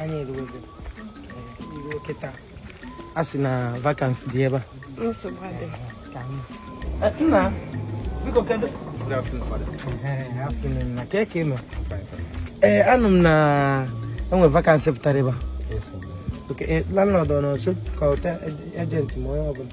anyị erugo kịta a sị na vacancy dị ebe a nna biko kedụ na ka eke nọ ee anụ m na enwe vacancy pụtara ebe a landlord ọ nọ nso kpọta agent ma onye ọbụla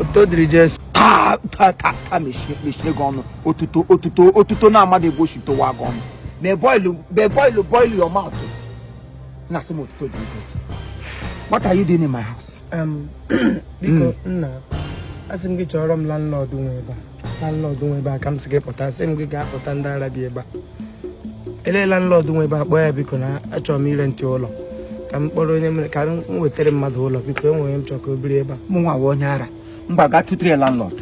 otuto dịrị jesu taa taa taa taa mechie mechie gị ọnụ otuto otuto otuto na-amadị ebe ochi towa gị ọnụ na boil be boil boil your mouth na asị m otuto dịrị jesu what are you doing in my house Um, biko nna asị m gị chọrọ m landlord nwe ebe a landlord nwe ebe a ka m sị gị kpọta asị m gị gaa kpọta ndị ara bi ebe a elee landlord nwe ebe a kpọọ ya biko na achọrọ m ịrentị ụlọ ka m kpọrọ onye mere ka m wetara mmadụ ụlọ biko enwere onye m chọrọ ka o biri ebe a mụ nwa bụ onye ara mba gaa tụtụrụ ya landlord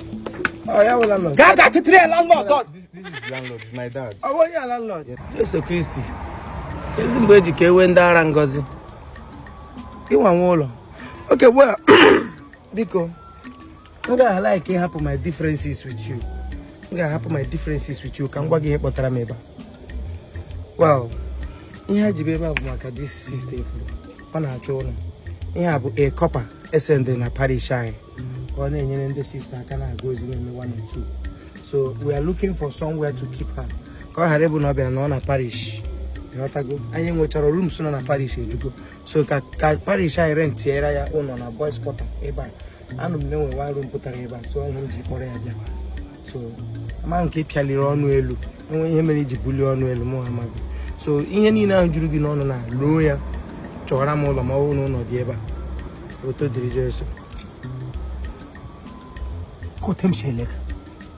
ọ ya bụ landlord gaa gaa tụtụrụ ya landlord This, this is the landlord, it's my dad. ọ bụ onye a landlord Jesu Kristi ezi mgbe eji ka ewe ndị ara ngozi ịnwa nwe ụlọ okay well biko m ga like ịhapụ my differences with you m ga-ahapụ my differences with you ka m gwa gị ihe kpọtara m ebe a well ihe e ji bịa ebe a bụ maka this sister efu ọ na-achọ ụlọ ihe a bụ a corper e sendịrị na parish anyị ka ọ na-enyere ndị sister aka na-aga ozi na-eme one or two so we are looking for somewhere to keep her ka ọ ghara ịbụ na ọ bịara nọ na parish ịghọtago anyị nwechara rooms nọ na parish ejugo so ka ka parish anyị rentiere ya ụlọ na boys quarter ebe a anụ m na enwe one room pụtara ebe a so ihe m ji kpọrọ ya bịa so ama nke pịaliri ọnụ elu enwe ihe mere iji bulie ọnụ elu mụ amaghị so ihe niile ahụ juru gị n'ọnụ na loo ya chọwara m ụlọ ma ọ bụrụ na ụlọ dị ebe a otuto dịrị jesu kotem shelek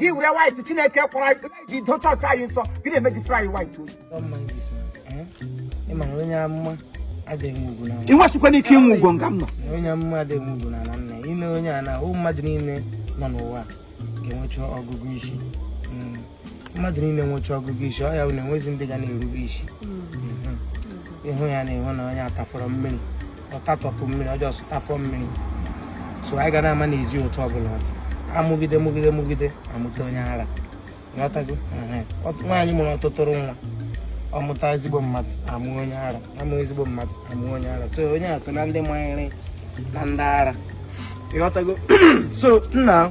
gị were white chineke kwara ji do chọọchị anyị nsọ gị na-eme destroy white oyi ịmara onye amụma adịghị ugwu na ị nwesịkwana ike inwe ugwu nga m nọ onye amụma adịghị ugwu na ala nna ile anya na ụmụ mmadụ niile nọ n'ụwa ga-enwecha ọgụgụ isi mm. mmadụ niile nwecha ọgụgụ isi ọ ya bụ na enwezi ndị ga na-erube isi mm-hmm. ịhụ ya na ịhụ na onye atafọrọ mmiri ọtatọpụ mmiri ọjọọ sụtafọ mmiri so anyị ga na-ama na eji otu ọbụla amụgide mụgide mụgide amụta onye ara ịghọtago nwaanyị mụrụ ọtụtụrụ nwa ọmụta ezigbo mmadụ amụ onye ara amụ ezigbo mmadụ amụ onye ara so onye atụ na ndị manyere na ndị ara ịghọtago so nna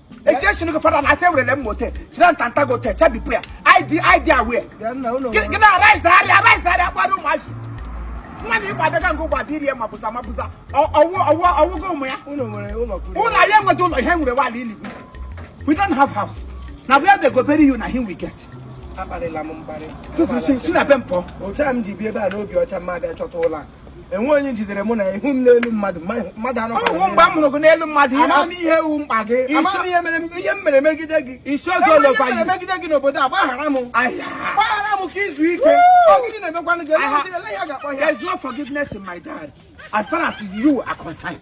esi esi nugu fada na ase wele mmote chira ntanta go te chabi prayer I dey I dey aware gị na arise ari arise ari akwado ụmụazị nwa na igba abịaga nke ụgba biri ya mabuza mabuza ọwụ ọwụ ọwụgo ụmụ ya ụlọ anyị enweta ụlọ ihe e nwere wụla ili we don't have house na where they go bury you na im we get akparịla m mkparị tutu si na be mpọ otu a m ji bi ebe a n'obi ọcha mma abịa chọta ụlọ a enwe onye jidere mụ na ị hụ m n'elu mmadụ mmadụ anọ ọ wụ mgbe m hụrụ gị n'elu mmadụ ama m ihe wụ mkpa gị ama m ihe mere ihe m mere megide gị isi oge olekwa gị megide gị n'obodo a gbaghara m gbaghara m ka i zuo ike ọ gịnị na-emekwanụ gị ele ya ga-akpọ ya there's no forgiveness in my diary as far as you are concerned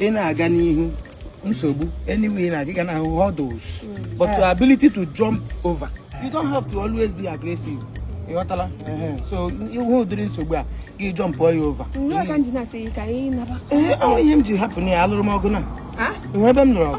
ị na-aga n'ihu nsogbu anyway na gị ga-ahụ hurdles hmm. but your ability to jump over you don't have to always be aggressive ịghọtala so ị hụ ụdịrị nsogbu a gị jumpụọ ya over ee ọ ihe m ji hapụ na ya alụrụ m ọgụ na e nwe ebe m lụrụ ọgụ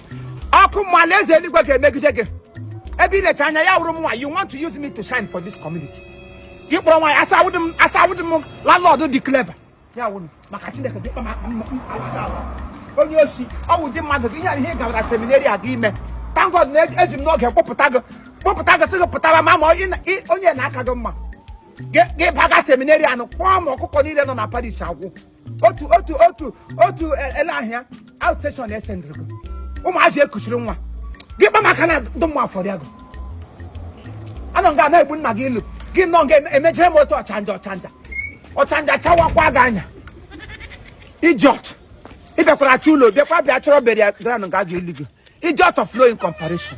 ọkụ mmụọ alaeze eluigwe ga-emegide gị ebe ị na-eche anya ya wụrụ mụnwa you want to use me to shine for this community gị kpọrọ nwaanyị asa awụdị m asa awụdị m landlord dị clever ya wụrụ maka chineke dị mkpa maka mma- mma- mma- mma. onye osi ọ wụ ụdị mmadụ gị ihe a ihe ị gawara seminari a ga ime thank God na eji m n'oge kpọpụta gị kpọpụta gị sị gị pụtara ma ma ị na- ị- onye na-aka gị mma gị gị baga seminari anụ kpọọ ma ọkụkọ niile nọ na parish agwụ otu otu otu otu ele ahịa outstation e sendịrị gị ụmụazị ekuchiri nwa gị kpa maka na ndụ mma afọrọ ya gị anọ nga na-egbu nna gị ilu gị nọ nga emejere m otu ọchanja ọchanja ọchanja chawakwa gị anya idiot ị bịakwara achọ ụlọ bịakwa bịa chọrọ burial ground nga ga-eli gị idiot of no mean comparison